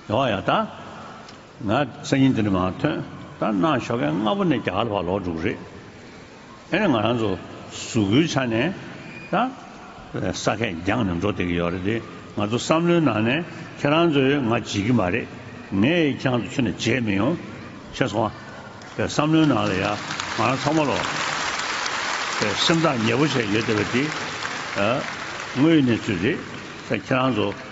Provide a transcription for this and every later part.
ཡོང་བ་ཡང་ད་ང་སང་ཉིན་འདི་འདྲ་མང་ཐོན་ད་ནང་ཞོགས་ཁན་སྔ་པོ་ནས་རྒྱ་གར་བར་ལོག་འགྲོ་གི་རེད་ཨེ་རེད་ང་རང་ཚོ་གཟུགས་པོའི་ཆ་ནས་ད་ས་ཁད་རྒྱང་ནས་འགྲོ་བསྡད་ཀྱི་ཡོད་རེད་དེ་ང་ཚོ་བསམ་བློའི་ནང་ནས་ཁྱེད་རང་ཚོས་ང་བརྗེད་ཀྱི་མ་རེད་ངས་ཁྱེད་རང་ཚོ་ཆུ་ནས་བརྗེད་མི་ཡོང་ཤེས་སོང་ཨ་པའི་བསམ་བློའི་ནང་ལ་ཡ་ང་རང་ཚང་མ་ལོག་པའི་སེམས་ཐག་ཉེ་པོ་བྱས་ཡོད་བསྡད་པ་དེ་ཨ་དངོས་ཡོད་གནས་ཚུལ་རེད་ད་ཁྱེད་རང་ཚོ།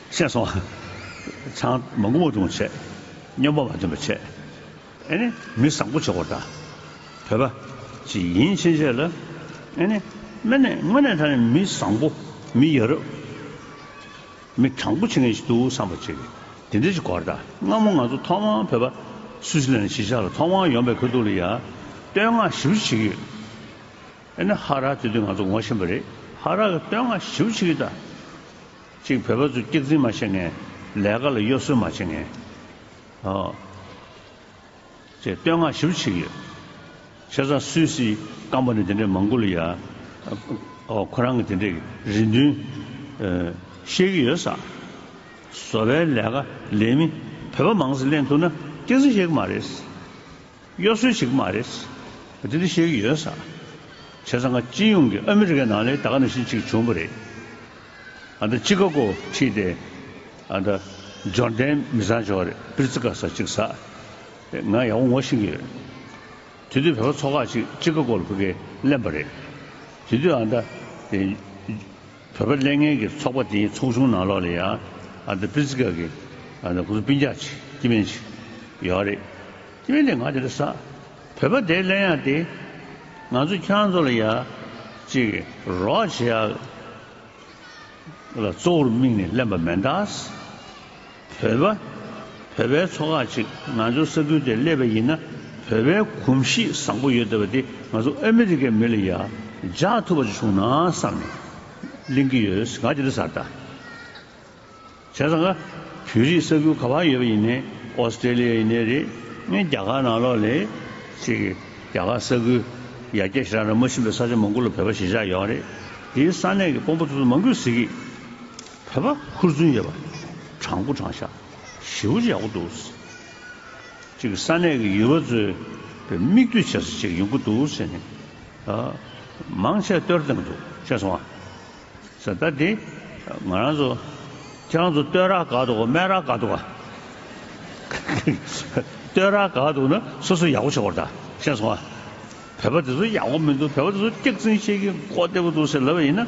ཤེས་སོ། ཆང། མ་མགོ་བོ་ཆུང་བྱེད། སྨྱོན་པ་མ་ཐོན་པ་བྱེད། ཨེ་ནི། མི་བཟང་པོ་བྱེད་དགོས་གདའ། བོད་པ། ཅི་ཡིན་ཕྱིན་ཆད་ལ། ཨེ་ནི། སྨན་ནི་དངོས་གནས་ད་ནི་མི་བཟང་པོ། མི་ཡ་རབས། མི་དྲང་པོ་བྱེད་མཁན་ཞིག་འདུག་བསམ་པ་བྱེད། དེ་འདྲ་ཞིག་གོ་གདའ། སྔ་མོ་ང་ཚོ་ཐོག་མར་བོད་པ། སུད་སི་ལན་གཞིས་ཆགས་ལ་ཐོག་མར་ཡོང་པའི་ཁོལ་དུ་ལ་ཡ། བསྟོད་བསྔགས་ཞིབ་བྱེད་ཀྱི་ཡོད། ཨེ་ནི། ཧ་ར་དེ་དུས་ང་ཚོ་ངོ་ཤེས་པ་རེད། ཧ་ར་གི་བསྟོད་བསྔགས་ཞིབ་བྱེད་ཀྱི་གདའ། གཅིག་བོད་པ་ཚོས་སྐྱག་རྫིང་མ་བྱེད་ངེས། ལས་ཀ་ལ་གཡོ་ཟོལ་མ་བྱེད་ངེས། ཅེས་བསྟོད་བསྔགས་ཞིབ་བྱེད་ཀྱི་ཡོད། ཆེ་ཚང་སུད་སི་སྐམ་པོ་ནས་དེ་འདྲའི་མང་གུ་ལ་ཡ། ཁོ་རང་གི་དེ་འདྲའི་རེ་འདུན། བཤད་ཀྱི་ཡོད། བཟོ་པའི་ལས་ཀ་ལས་མི་བོད་པ་མང་སེ་ལེན་ཐུབ་ན་སྐྱག་རྫིང་བཤད་ཀྱི་མ་རེད། གཡོ་ཟོལ་བྱེད་ཀྱི་མ་རེད། དེ་འདྲ་བཤད་ཀྱི་ཡོད་ས་བྱས་ཙང་སྤྱི་ཡོངས་ཀྱི་ཨ་མི་རི་ཀའི་ནང་ལས་ད་ག་ནང་བཞིན་ཅིག་བྱུང་པ་རེད། ཨ་མདའ་སྤྱི་ཁ་ཀོ་ཁྲིད་དེ་ཨ་མདའ་འབྱོར་ལྡན་མི་བཟང་བྱས་བ་རེད་པིར་ཙི་ཀ་ས་ཅིག་ས་རེད་ང་ཡག་པོ་ངོ་ཤེས་ཀྱི་ཡོད། དེ་དུས་བོད་པ་ཚོ་ཁག་ཅིག་སྤྱི་ཁ་ཀོ་ལ་བོད་སྐད་གླེན་པ་རེད། དེ་དུས་ཨ་མདའ་དེ། བོད་པ་ཀླད་ངན་གྱི་ཚོགས་པ་དེའི་ཚོགས་ཆུང་ནང་ལོགས་ལ་ཡང་ཨ་ད་པི་ཙི་ཀ་གི་ཨ་ད་ཀུ་རུ་པི་འཇག་ཅེས་སྐྱི་སྨན་ཅིག་ཡོད་རེད། སྐྱི་སྨན་དེ་ང་དེ་རུ་ཟ། བོད་པ་དེའི་གླད་ཡག་དེ། ང་ཚོ་ཁྱོད་རང་ཚོ་ལ་ཡག། ཅིག་རོགས་བྱེད་ཨ། ལ་གཙོ་བོར་དམིགས་ནས་གླེན་པ་མེད་ད། བོད་པ། བོད་པའི་ཚོ་ཁག་ཅིག་ང་ཚོའི་ས་ཁུལ་དེར་སླེབས་པ་ཡིན་ན་བོད་པའི་གོམས་གཤིས་བཟང་པོ་ཡོད་བསྡད་པ་དེ་ང་ཚོ་ཨ་མི་རི་ཀའི་མི་ལ་ཡ་རྒྱག་ཐུབ་པ་ཅིག་བྱུང་ན་བསམ་ནས་གླེང་གི་ཡོད་ང་དེ་འདྲ་བཟའ་ཟླ་བྱས་ཙང་ང་བོད་རིགས་ས་ཁུལ་ག་བར་ཡོད་པ་ཡིན་ནའི་ཨོ་སི་ཀྲེ་ལི་ཡ་ཡིན་ནའི་རེད་ངས་རྒྱ་གར་ནང་ལོགས་ལས་ཅེས་ཀྱི་རྒྱ་གར་ས་ཁུལ་ཡ་རྒྱ་ཞེ་དྲག་ན་མ་ཕྱིན་པའི་ས་ཆ་མང་པོ་ལ་བོད་པ་ཞེ་བཞག་ཡོད་རེད་དེའི་ས་གནས་ཀྱི་དཔོན་པོ་ཚོ་ཚོ་མང་གུས་ཟིག་གིས། ཕལ་པ་ཧུར་བརྩོན་ཡོད་པ། དྲང་པོ་དྲང་བཞག་ཞི་བོ་ཡག་པོ་འདུག། གཅིག་གིས་ས་གནས་ཀྱི་ཡུལ་བ་ཚོའི་བའི་དམིགས་འདུད་བྱེད་ས་ཅིག་ཡོང་གི་འདུག་ཟེར་ནས། མང་ཆེ་བསྟོད་བསྡམས་འདུག་བཤད་སོང་ང། ཟེར་ད་དེ་ང་རང་ཚོ་ཁྱེད་རང་ཚོ་བསྟོད་རག་ག་འདུག་ག་སྨད་རག་ག་འདུག་ག། བསྟོད་རག་ག་འདུག་ན་སོ་སོ་ཡག་པོ་བྱེད་དགོས་རེད་ད་བཤད་སོང་ང། བལ་པ་དེ་ཚོ་ཡག་པོ་མི་འདུག་བལ་པ་དེ་ཚོ་སྐྱག་རྫིང་བཤད་ཀྱི་མགོ་བདེ་པོ་འདུག་ཟེར་ལབ་པ་ཡིན་ན།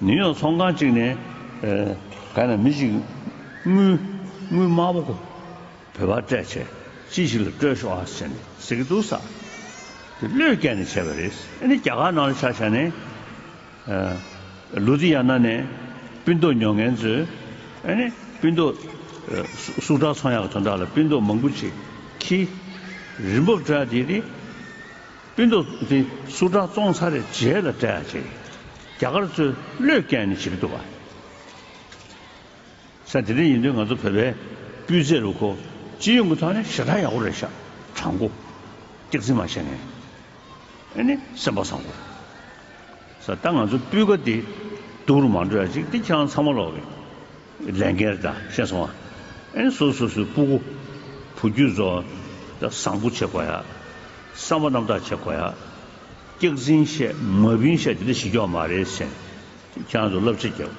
ནིའུ་ཡོག་ཚོང་ཁང་གཅིག་ནས། ག་ན་མི་གཅིག་དངུལ། དངུལ་དམར་པོ། བོད་པར་སྤྲད་ཆས་ཅི་ཞིག་ལ་སྤྲོད་ཤོག་ཨ་ཟེར་ནས་ཟེར་གྱི་འདུག་ས། དེ་བློས་བཀལ་ནས་བྱས་པ་རེད། ཨ་ནི་རྒྱ་གར་ནང་ལ་ཆ་བཞག་ནས། ལུ་དྷི་ཡ་ན་ནས་སྤུན་ཟློག་ཉོ་མཁན་ཚོས། ཨ་ནི་སྤུན་ཟློག། སུག་བྲག་ཚོང་ཡག་གི་དོན་དག་ལ་སྤུན་ཟློག་མང་པོ་ཆེ། ཁྱི། རི་འབོབ་བྲག་དེ་ནི། སྤུན་རྡོ་འདི་སུ་དྲག་བཙོང་ཚར་རེད་རྗེས་ལ་དྲ་རྒྱ་གར་ཚོས་བློས་བཀལ་ནས་བྱེད་ཀྱི་འདུག་བ། ས་དེ་འདྲ་ཡིན་དུས་ང་ཚོ་བོད་པའི་སྤུས་ཚད་ལུག་ཁོ་སྤྱི་ཡོངས་ཀྱི་ཐོག་ནས་ཞེ་དྲག་ཡག་པོ་རེད་ཤ་དྲག་མགོ་སྟེགས་རྩིས་མ་བྱས་ནས་ནི་སེམས་པ་བཟང་པོ། ས་ད་ང་ཚོ་སྤུས་ཀ་དེ་སྡུག་རུ་མ་འགྲོ་ཡ་ཅིག་དེ་ཁྱང་ཚང་མ་ལོག་གི་ལས་འགན་རེད་ད་ཤེས་སོང་ང་ཨེ་སོ་སོ་སོའི་སྤུ་གུ་བུ་རྒྱུད་ཚོ་ད་བཟང་པོ་བྱེད་དགོ་ཡ་བསམ་པ་རྣམ་དག་བྱེད་དགོ་ཡ་སྐྱག་རྫིན་བཤད་མ་བིན་བཤད་དེ་འདྲ་བྱེད་རྒྱོ་མ་རེད་སེམས་དེ་ཁྱང་ཚོ་བསླབ་བྱ་རྒྱབ་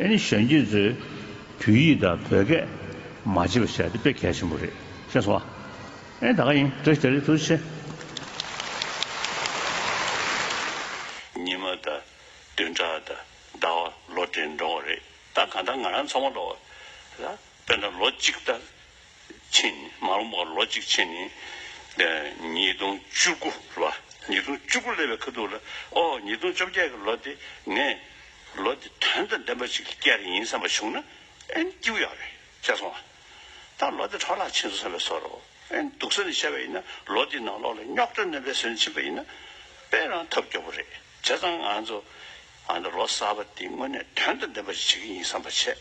ཨེ་ནི་གཞོན་སྐྱེས་ཚོའི་བོད་ཡིག་ད་བོད་སྐད་མ་བྱེད་པ་བཤད་དེ་དཔེ་གལ་ཆེན་པོ་རེད་ཤེས་སོང་ང་ཨེ་ད་ག་ཡིན་དྲི་ཞེ་རེ་ཐུགས་ཆེ། ཉི་མ་དང་བདུན་ཕྲག་དང་ཟླ་བ་ལོ་བགྲེས་འགྲོ་བ་རེད་ད་གང་ལྟར་ང་རང་ཚང་མ་ལོ་ལ་དཔེར་ན་ལོ་གཅིག་ལྟར་ཕྱིན་མ་རུང་བ་ལོ་གཅིག་ཕྱིན་ནི་ཉིས་སྟོང་བཅུ་དགུ་ལོ་ཉིས་སྟོང་བཅུ་དགུ་ལས་བའི་ཁ་ཐུག་ལ་ཨོ་ཉིས་སྟོང་བཅོ་བརྒྱད་ཀྱི་ལོ་དེ་ངས་ལོ་དེ་དོན་དང་ལྡན་པ་ཞིག་སྐྱེ་རེ་ཡིན་བསམ་པ་བྱུང་ན་ཨེ་སྐྱིའུ་ཡག་རེད་བྱས་སོང་ཨ། ད་ལོ་དེ་འཕྲོ་བརླག་ཕྱིན་སོང་བས་སོ་རོ། ཨན། དུག་ཟོན་བྱས་པ་ཡིན་ན་ལོ་དེའི་ནང་ལོགས་ལ་རྙོག་དྲ་གནོན་པའི་ཟོན་ཕྱིན་པ་ཡིན་ན། དཔེ་རང་ཐབས་སྐྱོ་པོ་རེད། བྱས་ཙང་ང་ཚོ། ཨ་ནི་ལོ་གསར་པ་དེ་དངོས་གནས་དོན་དང་ལྡན་པ་ཞིག་བྱེད་ཀྱི་ཡིན་བསམ་པ་བྱས།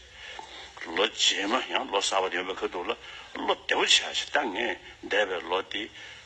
ལོ་རྗེས་མ་ཡང་ལོ་གསར་པ་ཡོང་བའི་ཁུལ་འདུག་ལ་བློ་བདེ་བོ་བྱས་ཤིག་ད་ངས་འདས་པའི་ལོ་དེ།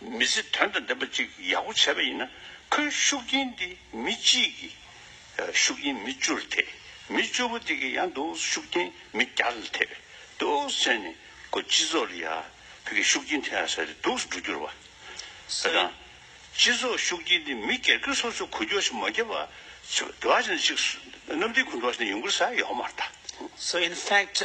མི་ཚེ་དོན་དང་ལྡན་པ་ཅིག་ཡག་པོ་བྱས་པ་ཡིན་ན་ཁོའི་ཤུགས་རྐྱེན་དེ་མི་གཅིག་གི་ཤུགས་རྐྱེན་མི་བཅུར་ཐེབས། མི་བཅུ་པོ་དེ་གི་ཡང་འདུག་ཤུགས་རྐྱེན་མི་བརྒྱ་ལ་ཐེབས་འདུག་ཟེར་ནས་ཁོ་སྤྱི་ཚོགས་ལ་ཡག་བོད་ཀྱི་ཤུགས་རྐྱེན་ཐེབས་ས་རེད་འདུག་སུ་འགྲོ་རྒྱུར་བ་ས་དང། སྤྱི་ཚོགས་ཤུགས་རྐྱེན་དེ་མི་སྒེར་གྱི་སོ་སོ་གོ་རྒྱོ་ཞིག་མ་བརྒྱབ་པ་ཆུ་དོ་བ་ཞིག་ན་གཅིག་གནམ་ལྡིང་གུ་འདྲོག་ཞིག་ན་ཡོང་གི་ས་ཡོག་མར་ད། So in fact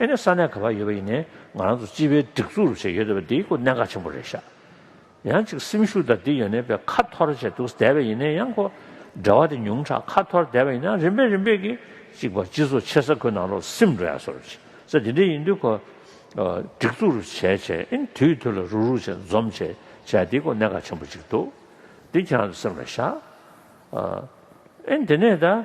ཨེ་ནས་ས་གནས་ག་པར་ཡོད་པ་ཡིན་ནའི་ང་རང་ཚོ་སྤྱི་པའི་སྒྲིག་འཛུགས་རུ་བྱེད་ཡོད་འདོད་པ་འདིའི་སྐོར་གནད་འགག་ཆེན་པོ་རེད་ཤག་ཡང་གཅིག་སེམས་ཤུགས་དང་འདི་ཡོ་ནས་པའི་ཁ་འཐོར་བྱས་འདུག་ཟད་པ་ཡིན་ནའི་ཡང་ཁོ་འདྲ་བ་དེ་ཉུང་དྲགས་ཁ་འཐོར་བསྡད་པ་ཡིན་ནའང་རིམ་པས་རིམ་པས་ཀྱིས་གཅིག་པ་སྤྱི་ཚོགས་ཆེ་ས་ཁོ་ནང་རོགས་སེམས་འགྲོ་ཡག་སོར་བྱེད་ས་དེ་འདྲའི་ཡིན་དུས་ཁོ་སྒྲིག་འཛུགས་རུ་བྱས་བྱས་ཨིན་དུས་དུས་ལ་རུག་རུག་བྱས་འཛོམས་བྱས་བྱས་འདིའི་སྐོར་གནད་འགག་ཆེན་པོ་གཅིག་འདུག་འདི་ཁྱེད་རང་ཚོས་སེམས་ལ་བཞག་ཨིན་དེ་ནས་ད།